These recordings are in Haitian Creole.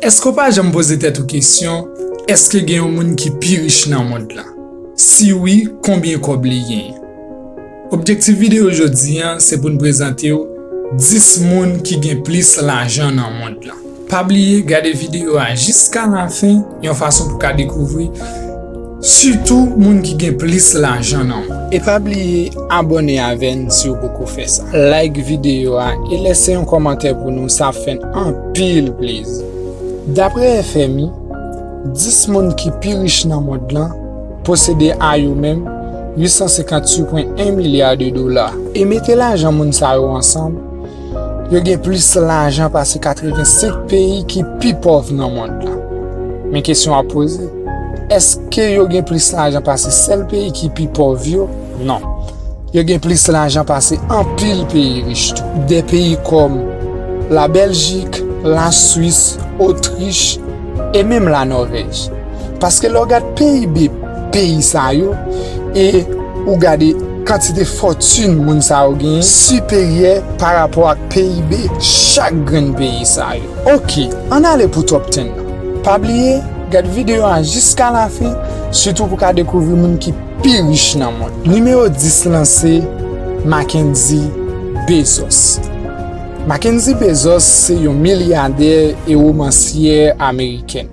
Èske w pa janm poze tèt ou kesyon, èske gen yon moun ki pi rich nan mond lan? Si wi, konbyen kòb li genyen? Objektif videyo jodi a se pou n prezante w 10 moun ki gen plis lajan nan mond lan. Pa bliye gade videyo a jiska lafen. Yon fason pou ka dekouvri sitou moun ki gen plis lajan nan moun. E pa bliye abone avè n si w poko fè sa. Like videyo a e lese yon kòmantè pou nou sa ap fè n anpil plezi. Daprè FMI, 10 moun ki pi rich nan mond lan posede a yo menm 858,1 milya de dola. E mete lajan moun sa yo ansanm, Yo gen plis lajan pase 85 peyi ki pi pòv nan mond la. Men kesyon ap poze, èske yo gen plis lajan pase sèl peyi ki pi pòv yo? Non. Yo gen plis lajan pase anpil peyi rich tou. De peyi kòm La Bèljik, La Swis, Otrich e menm La Nòvèj. Paske lè w gad PIB. peyi sa yo e ou gade kantite fòtin moun sa yo genyen siperyè pa rapò ak PIB chak grenn peyi sa yo. Ok, ann ale pou Top Ten nan. Pa bliye gad videyo a jiska lafen sitou pou ka dekouvri moun ki pi rich nan mond lan. Nimewo 10 lan se Mackendy Bezos. Mackendy Bezos se yon milyadè e womansyè amerikèn.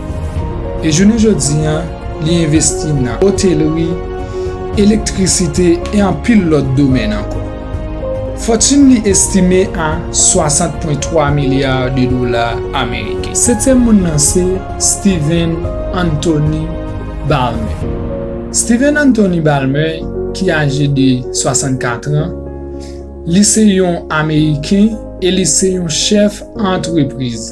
E jounen jodi a, li envesti nan otelri, elektrisite e anpil lòt domèn ankò. Fòtin li estime a 60.3 milya de dola ameriken. Setyèm moun nan se Steven Anthony Balmer. Steven Anthony Balmer ki aje de 64 an, li se yon ameriken e li se yon chèf antrepriz.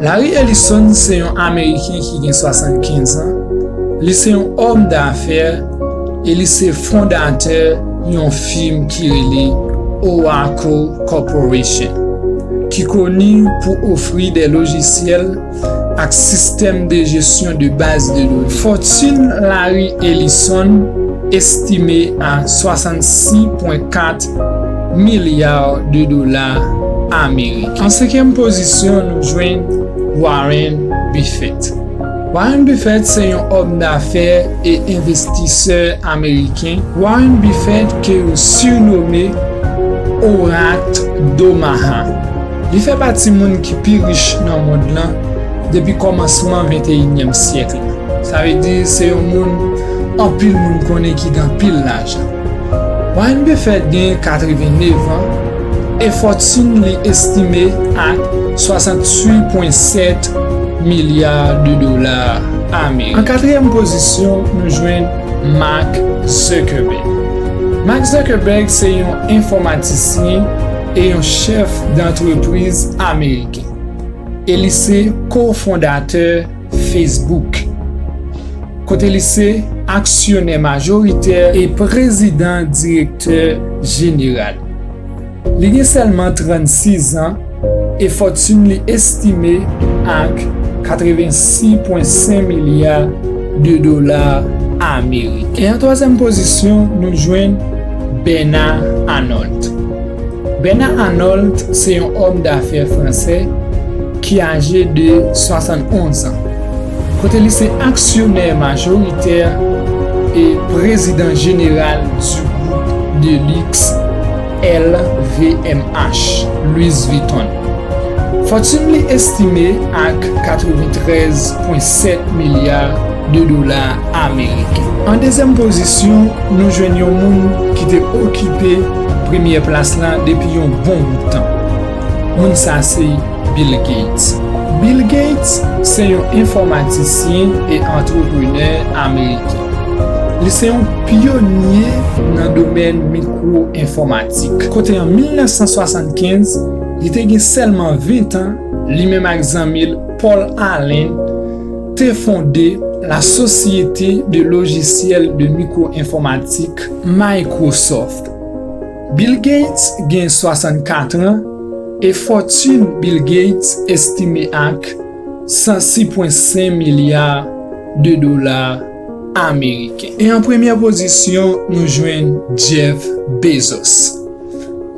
Larry Ellison se yon Ameriken ki gen 75 an, li se yon òm dafè e li se fondatè yon fim ki rele Oracle Corporation, ki koni pou ofri de lojisyèl ak sistèm de jesyon de baz de done. Fòtune Larry Ellison estime a 66,4. milya de dola ameriken. An senkyèm pozisyon nou jwenn Warren Buffett. Warren Buffett se yon òm dafè e envestisè ameriken. Warren Buffett ke yo surnome Orak Domaha. Li fè pati moun ki pi rich nan mond lan depi kòmansman venteyinyèm syèk la. Sa vle di se yon moun anpil moun konnen ki gen anpil lajan. Warren Buffett genyen 89 an e fòtin li estime a 68.7 milya de dola ameriken. An katriyèm pozisyon nou jwenn Mark Zuckerberg. Mark Zuckerberg se yon enfòmatisyen e yon chèf dantrepriz ameriken e li se ko-fondatè. Facebook, kote li se aksyonè majoritè e prezidan direktè jeneral. Li gen sèlman 36 an e fòtun li estime ak 86,5 milya de dola ameriken. E an twazyèm pozisyon nou jwenn Bernard Arnault. Bernard Arnault se yon òm dafè fransè ki aje de 71 zan, kote li se aksyonè majoritè e prezidan jeneral du group de luxe LVMH, Louis Vuitton. Fòtune li estime ak 93,7 milya de dola ameriken. An dezyèm pozisyon, nou jwenn yon moun ki te okipe. Premyè plas la depi yon bon bout tan. Moun sa se Bill Gates. Bill Gates se yon enfòmatisyen e antreprenè ameriken. Li se yon pyonye nan domèn mikwo enfòmatik. Kote an 1975, li te gen sèlman 20 tan, li menm ak zanmi l Paul Allen te fonde la Société de logiciels de micro-informatique, Microsoft. Bill Gates gen 64 an e fòtun Bill Gates estime ak 106.5 milya de dola ameriken. E an premyè pozisyon nou jwenn Jeff Bezos.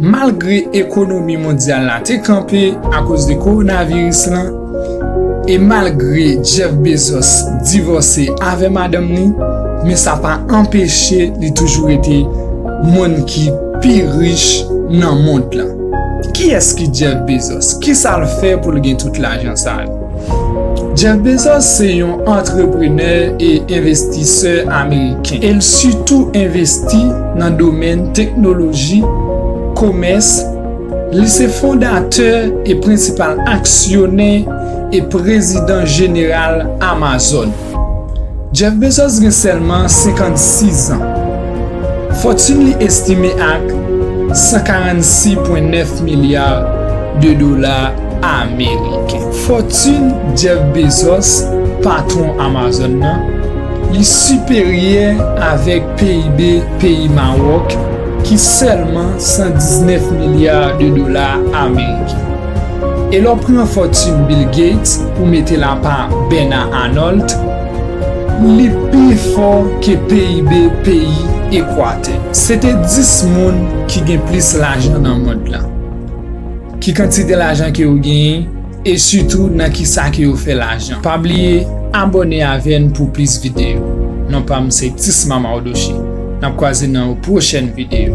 Malgre ekonomi mondyal la te kanpe akoz de kowonaviris lan e malgre Jeff Bezos divòse avè madanm li, men sa pa anpeche li toujou rete moun ki pi rich nan mond lan. Kiyès ki Jeff Bezos? Kisa l fè pou l gen tout lajan sa yo? Jeff Bezos se yon antreprenè e envestisè ameriken e l sitou envesti nan domèn teknoloji, komès, li se fondatè e prensipal aksyonè e prezidan jeneral Amazon. Jeff Bezos gen sèlman 56 zan. Fòtune li estime ak 146.9 milya de dola ameriken. Fòtune Jeff Bezos, patwon Amazon nan, li siperyè avèk PIB peyi Mawòk ki sèlman 119 milya de dola ameriken. E lè w pran fòtin Bill Gates ou mete l apa Bernard Arnault, li pi fò ke PIB peyi Ekwatè. Se te 10 moun ki gen plis lajan nan mond lan. Ki kantite lajan ke yo genyen e sitou nan kisa ke yo fè lajan. Pa bliye abòne avè n pou plis videyo. Non pa m se Tisma Mardochée. Nap kwaze nan yon pwochèn video.